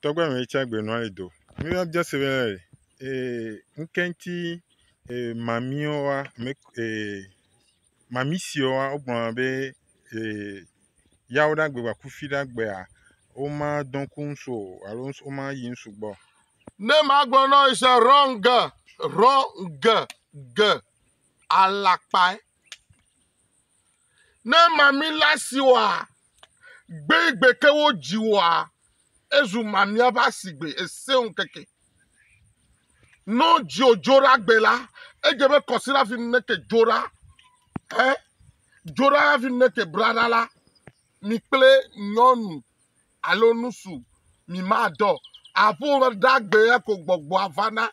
tɔgbe me yi tsɛ gbe nɔ anyi do mi wa biɔ se be ee ŋkɛŋti ee mamiwo wa me ee mami siwo wa wogblɔna be ee yawo ɖe agbe va kufi ɖe agbea woma dɔ ŋku ŋsu o alo ŋsu woma yi ŋsu gbɔ. Ne magblɔ na wo se wrong ge wrong ge ge alakpae. Ne mamila si wɔa gbegbe ke wo dzi wɔa, ezu mamia ƒe asigbe, ese ŋkeke. No dzio dzora gbe la, edze be kɔsira fi neke dzora, he dzora fi neke brada la, mi kple nyɔnu alo nusu mi ma dɔ. Aƒo ɖagbe ya ko gbɔgbɔa vana.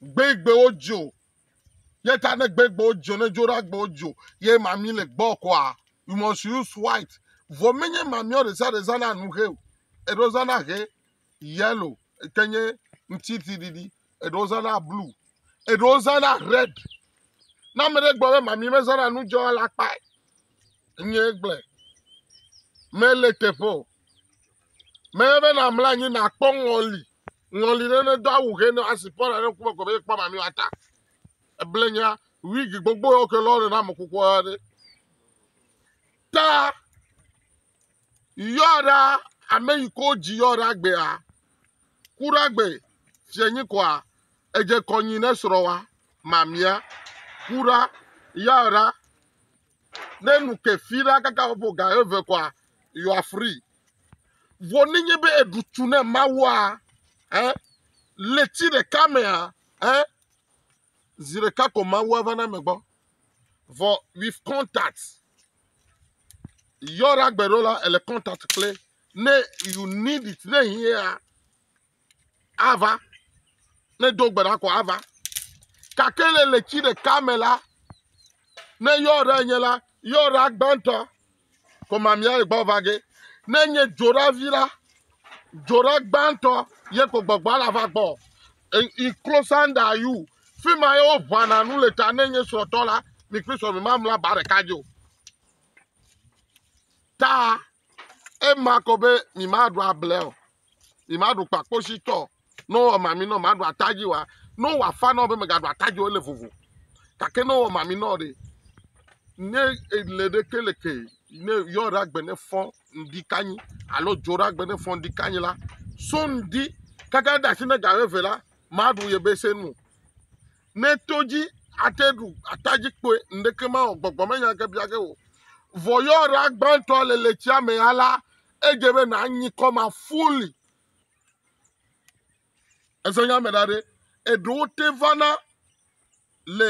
Gbegbe wo dzio Ye ta ne gbe gbɔ dzo ne dzo ɖa gbɔ dzo ye mami le gbɔ kɔa you must use white. Vɔ menye mami o ɖesa ɖe zana nu he o. Eɖo zana he yellow ke nye ŋtiti ɖiɖi eɖo zana blue eɖo zana red. Na ame ɖe gbɔ be mami mezana nu dzo la kpae. Nye gblɔe. Mele teƒe o. Menye be nàmlɔ anyi nàkpɔ ŋɔli, ŋɔli ɖe nedo awu ʋe ne asi kpɔ ɖe ŋkume ko be ekpɔ mamio ata. Eblenya, wigi gbogbo yɔ ke lɔre na amekukua ɖe. Ta yɔ ɖa ame yi ko dzi yɔ ɖa gbea, ku ɖa gbe fia nyi kɔa, edze kɔnyi ne srɔ̃ wa mamia, ku ɖa yɔ ɖa ne nu ke fi ɖa kaka ƒo ga eve kɔa, you are free. Vɔ nenye be èɖu tu na Mawua, eh, leti ɖeka mea, eh, zi ɖeka ko Mawua va na me gbɔ. Vɔ with contact. Yɔra gbe ɖo la, ele contact kple ne you need it, ne hiãa, ava. Ne do gbe ɖa ko ava. Gake le letsi ɖeka me la, ne yɔɖa nye la, yɔɖa gbãtɔ ko mamia gbɔ va ge. Ne nye dzoɖavi la, dzoɖa gbãtɔ ye ko gbɔgbɔ la va gbɔ. In closer than you. Fi ma ye woʋana nu le ta ne nye srɔ̃tɔ la, mi kple srɔ̃ mi ma mla ba ɖeka dzi o. Ta ema ko be mi ma ɖu able o. yi ma ɖu kpakpo si tɔ no wɔ mami nɔ ma ɖu atadzi wa no wɔ afa nɔ be me ga ɖu atadzi wo le vovo kake no wɔ mami nɔ de ne ele de ke le ke ne yɔ ra gbe ne fɔ ndi kanyi alo dzo ra gbe ne fɔ ndi kanyi la so ndi kaka da si ne ga ve la ma ɖu ye be se nu ne to dzi ate ɖu atadzi kpoe ndeke ma o gbɔgbɔ me nya ke bia ke o vɔ yɔ ra gbãtɔ le le tsia me ya la edze be nanyi kɔma fully ese nya me da ɖe eɖewo te vana le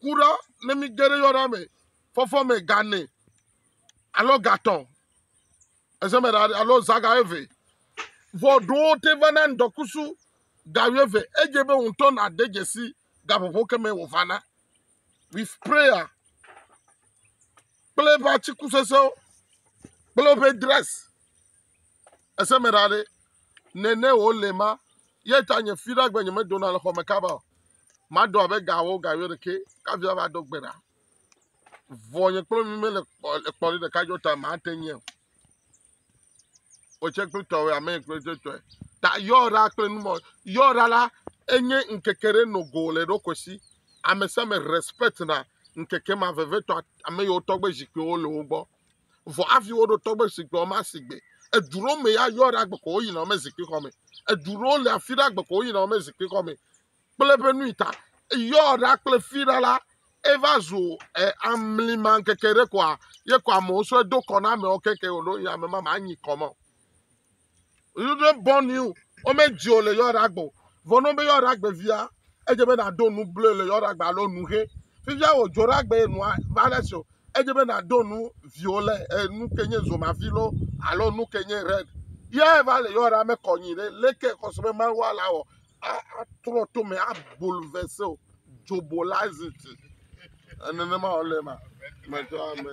kuɖa ne mi ge ɖe yɔna me fɔfɔ me gane alo gatɔ ese me da ɖe alo zaga eve vɔ ɖewo te vana ŋdɔkusu ga eve edze be ŋutɔ na de dzesi gaƒoƒo keme wò vana with sprayer kple eƒe atiku sesẽwo kple eƒe dress. Ese me ɖa ɖe, nene wòle ma, ye ta nye fi ɖe agbe nyemedona le xɔ me kaba o. Madɔ abe gawo ga wuiɖekɛ kafi ava do gbe ɖa. Vɔ nye kple mi mele kpɔ le kpɔ ɖe ɖeka dzo ta mate nyɛ o. wòtse kple tɔwɔe ame kple tɔe ta yɔra kple numɔ yɔra la enye ŋkeke ɖe no go le ɖokui si ame sia ame respect na ŋkeke ma vevietɔ ame yiwo tɔgbe zikpuiwo le wo gbɔ vɔ hafi woɖo tɔgbe zikpuiwo ma si gbe edu ɖewo me ya yɔra gbeko woyina wome zikpui xɔ me edu ɖewo le afi ɖe agbeko woyina wome zikpui xɔ me kple eƒe nui ta. Eyɔ ɖa kple fi ɖa la, eva zu eh, amlima ŋkeke ɖe koa, ye ko amewo sɔe do kɔ na amewo keke wòɖo yi ame ma manyi kɔ me o. Yudre bɔn you, womedzie o le yɔ ɖa gbɔ. Vɔ ne wobe yɔ ɖa gbe via, edze be nàdo nu bloe le yɔ ɖa gbe alo nu he. Fifia wòdzo ɖa gbe nua va ɖe si o, edze be nàdo nu viwo le eh, nu ke nye zomavi lo alo nu ke nye red. Yae va le yɔ ɖa mekɔ nyi ɖe leke xɔse be Mawu ala wɔ atrɔ to me abolo ve se o dzobo la ziti nenema wòle ema medzɔa me.